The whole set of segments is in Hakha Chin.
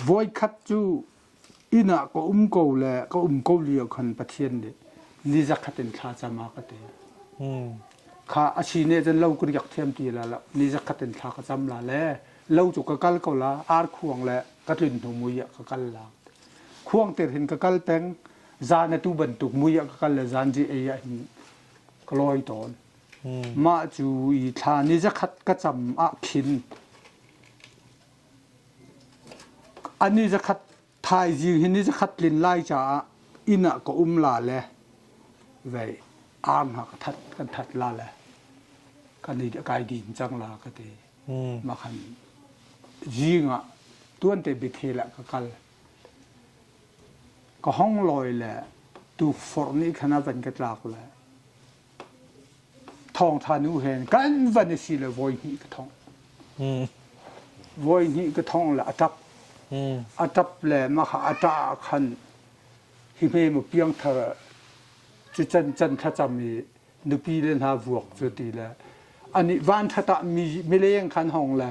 Voikhat cu inn ah ka um ko le ka um ko lio khan Pathian nih ni zakhat in thla cam a ka ti. Kha a si nih cun lo ka riak thiam ti la lo. Ni zakhat in thla ka cam la le lo cu ka kal ko la ar khuang le ka tlun hnu mui ah ka kal la. Khuang tir hin ka kal peng zan a tu bantuk mui ah ka kal le zan ji ei ah hin ka lawi tawn. Mah cu i thla ni zakhat ka cam ah khin A ni zakhat thaizing hi ni zakhat tlin lai caah inn ah ka um la le vei arm ha ka that kan that la le kan i kai din cang la ka ti ma khan zing ah tuan te bithel ah ka kal ka hong loi le tuk forh nih khan a van ka tlak le Thawngṭha nu hen kan van i si le voi hnih ka thongh. Mm. Voi hnih ka thongh le a ṭap. Mm. A ṭap le maka a ṭah ah khan hi hme mu piangthar cu can can thlacam i nupi le hna vuak cu ti le anih van ṭhat ah mi mileng khan hong le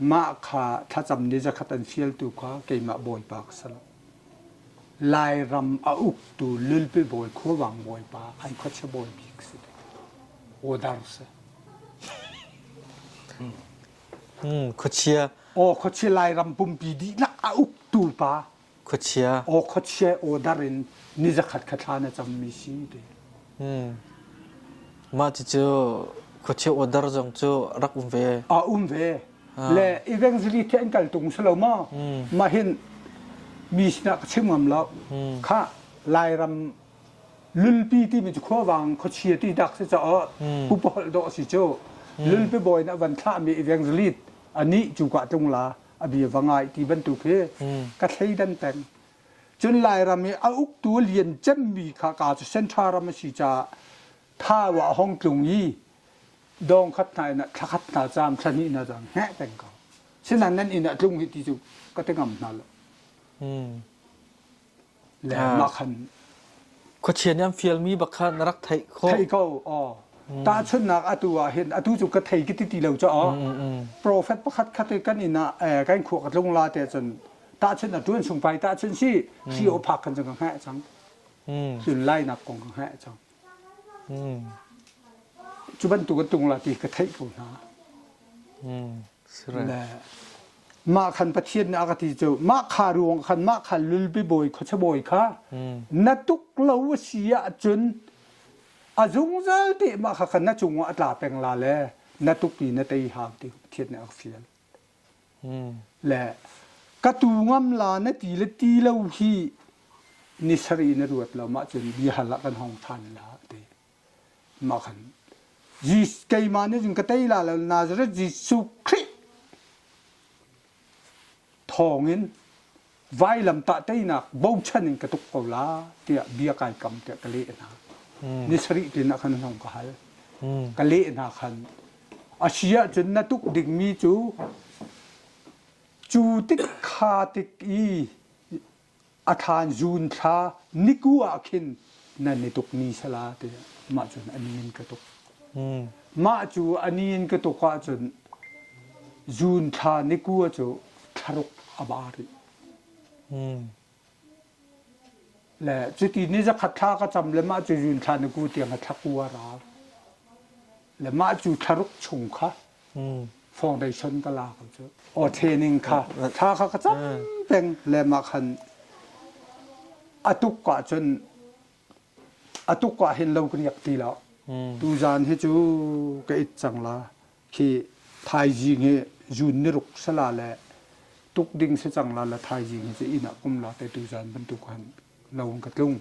Mah kha thlacam ni zakhat an fialtu kha keimah Bawipa ka si lo. Lairam a uktu Lulpi Bawi Khuavang Bawipa an khuachia bawipi ka si te. Odar si. Hmm, khuachia. Aw khuachia Lairam pumpi dihlak a uktu pa. Khuachia. Aw khuachia aw dar in ni zakhat kha thla na cammi si te. Hmm. Mah cucu khuachia aw dar zong cu rak um ve. A um ve. Le evangelist an kal tung si lo ma. Mah hin mi sinah ka chim ngam lo. Kha Lairam lulpi timi cu khuavang khuachia ti dak si caah pupaholh dawh si cu lulpi bawi nih a van thlahmi evangelist anih cu ka tlung la a bia va ngai ti bantuk hi ka thleidan peng. Cun Lairam i a uktu lian cemmi kha ka cu Central ram a si caah Thawa hong tlung i dong khat hna in thla khat hna caam thla hnih hna caam heh peng ko. Sinan nan inn a tlung hi ti cu ka te ngam hna lo. le mah khan khuachia nih an fialmi bak kha na rak theih khawh thei ko aw tahchunhnak atu ah hin atu cu ka thei ki ti ti lo cha aw profet pakhat khat kan in ah kan khua ka tlung la te cun tahchun a tuan sung pai tahchun si si o phak kan ka ngai chang chun lai nak kong ka ngai chang chu ban tu ka tung la ti ka thei ko na mah khan pathian nih a ka ti cu mah kha ruang khan mah kha lulpi bawi khuacha bawi kha na tuk lo a si ahcun a zungzal te mah kha khan na cungah a tla peng la le na tuk i na tei hau ti pathian nih a ka fial le ka tu ngam la na ti le ti lo hi ni sari na ruat lo mah cun bia hal ah kan hong than la te ma khan Jesus keimah nih cun ka tei la lo Nazareth Jesuh Khrih thawngin vailamtah teinak bochan in ka tuk ko la tiah bia kai kam tiah ka leh hna ni sarih tinah khan hnong ka hal ka leh hna khan a si ahcun na tuk dingmi cu cu tik kha tik i a thlaan zuun thla niku ah khin nan i tukmi sala te mah cun ani in ka tuk. Mah cu ani in ka tuk ahcun zuun thla nikua cu thlaruk a ba rih. Le cuti ni zakhat thla ka cam le mah cu zuun thla niku tiang a thlakua ral. Le mah cu thlaruk chung kha foundation ka la ko cu. Aw training kha thla kha ka cam peng le mah khan a tuk ka cun a tuk ka hin lo ka riak ti lo. Tu zan hi cu ka it cang la khi thaizing hi jun ni ruk sala le tuk ding si cang la la thaizing hi cu inn ah kum la te tu zan bantuk han lawng ka tlung.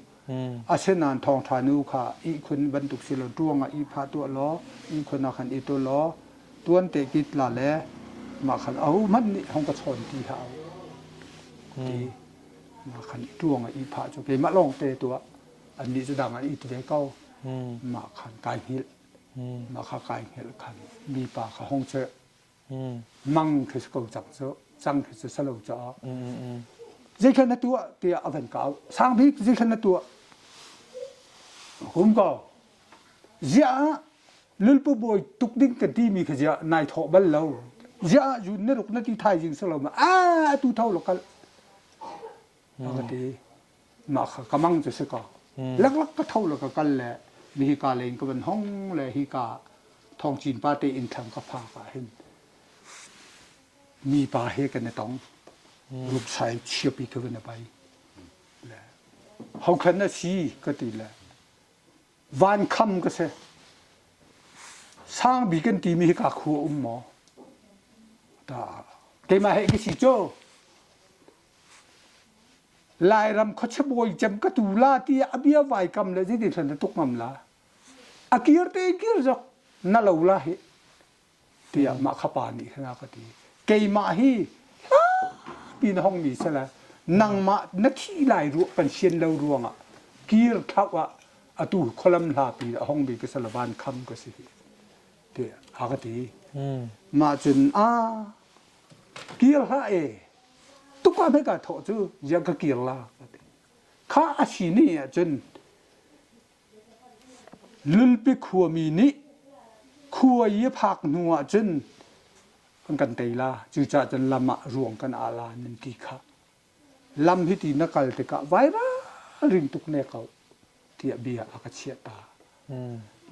Asinain thawngṭha nu kha ihkhun bantuk si law ṭuang ah ihphah tuah law ihkhun ah khan i ṭul law tuante kit la le mah khan ahohmanh nih hong ka chawn ti hlah u ti mah khan i ṭuang ah ihphah cu keimah lawngte tuah annih cu dang an it ve ko mah khan kai hngilh mah kha kai hngilh khan mipa kha hong chirh mang khi ko cang cu cang khi cu salo caah zeikhat na tuah tiah a van kau sang bik zeikhat na tuah kum ko ziah lulpu bawi tuk ding ka ti mi kha ziah nai thawh bal lo ziah zun na ruk na ti thai jing salo ma a tu thau lo kal a ka ti mah kha ka mang cu si ka laklak ka tho la ka kal le mi hi ka len ka van hong le hi ka thong cin pa te in thlang ka pha ka hin mi pa he kan tong rup sai chia pi thu na pai le hau khan na si ka ti le van kham ka se sang bi kan ti mi hi ka khu um mo ta ke ma he ki si cho Lairam khuachabawi cem ka tu la tiah a bia vaikam le zeiti thlan tuk ngam la. A kir te kir zok na lo la hi tiah mah khapa nih khan ka ti keimah hi hla ti na hong ni sala nangmah na khi lai ruah kan sian lo ruangah kir thlau ah atu kholam hla pi a hong bi ka salavan kham ka si hi ti a ka ti mah cun a kir hla e Tukua hmai ka thawh cu ziah ka kir la ka ti. Kha a si ni ahcun Lulpi khuami nih khuai a phak hnu ahcun an kan tei la cucaah cun lam ah ruang kan ah la nan ti kha lam hiti na kal tikah vairal ring tuk ne ko tiah bia a ka chiah ta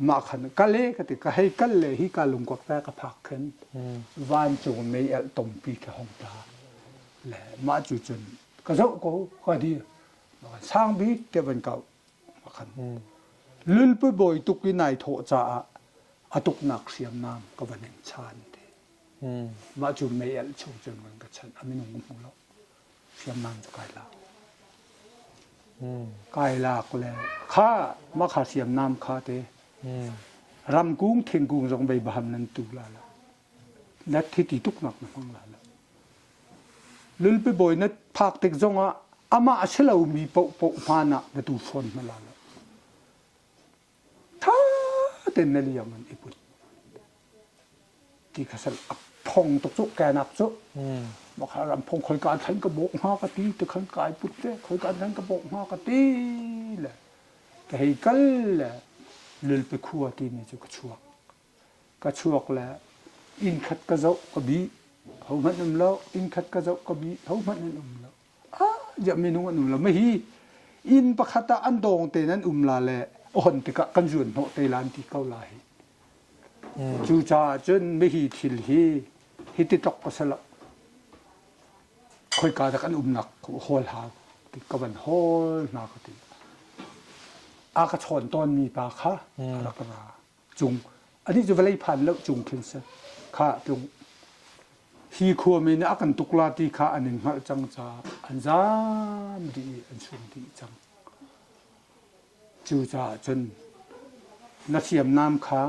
mah khan kal e ka ti ka hei kal le hi ka lungkuak te ka phak khin vancung mei elh tumpi ka hong tla le mah cu cun ka zoh ko ka di sang bik te van kau khan lulpu bawi tuk i nai thawh caah a tuknak hriamnam ka van in chan ti mah cu mei elh chung cun van ka chanh a minung hmu lo hriamnam cu kai lak. Kai lak le kha makhal hriamnam kha te ramkung thingkung zong bei baham nan tu la la. Nat thi ti tuk nak na hmang la la. Lulpi bawi na phak tik zong ah amah a si lo mi poh poh hman ah na tu fawn na la la. ṭha tein na liam an i put ti kha san a phong tuk cu kenak cu makha ram phong khoi kan thlan ka bawk hma ka ti te khan kai put te khoi kan thlan ka bawk hma ka ti le ka hei kal le lul pe khua ti mi cu ka chuak ka chuak le inn khat ka zoh ka bi ho hmanh um lo inn khat ka zoh ka bi ho hmanh an um lo ah ziah minung an um lo. Mei hi inn pakhat ah an dawng tein an um la le on tikah kan zuan hnawh te la an ti ko la hi. Mm. Cu caah cun mei thil hi hi ti tok pasal khoi ka tak an umnak hol ha ti ka van hol na ka ti a ka chon ton mi pa kha mm. a rak ra cung ani cu vawlei phan lo cung khin si kha tlung hi khuami nih a kan tukla ti kha an in hngalh cang ca an zam dih an sung dih cang cucaah cun na hriamnam kha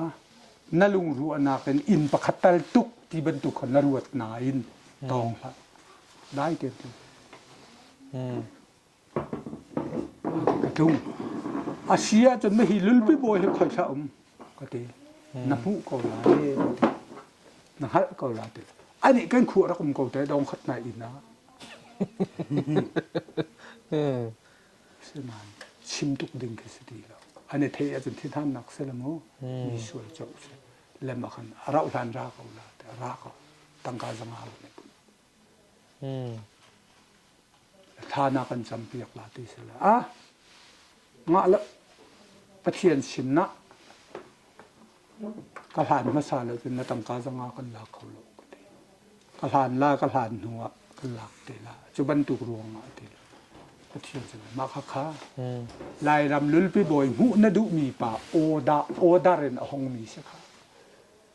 na lungruahnak in inn pakhat tal tuk ti bantuk khan na ruat nain tawng hlah dai te tu hmm ka ṭung. A si ahcun na hi lulpi bawi hi khoihla um ka ti. Na hmuh ko lai ka ti. Na hngalh ko lai ti. Anih kan khu rak um ko te dong khat nai ina. Siman chim tuk ding khi si ti lo. Ane thei ahcun thinhannak si le mu mi sual co si. Le makhan rauhlan ra ko la te ra ko. Tangka zanga ne pun. Thla na kan campiak la ti si la. Ngah le Pathian sin na ka hlan hmasa lo cun na tangka zong ah kan la kho lo ka ti. Ka hlan la ka hlan hnu ah kan lak ti la. Cu bantuk ruang ah ti la. Pathian sin mah kha kha. Lairam lulpi bawi hmuh na duhmi pa oda odar in a hongmi si kha.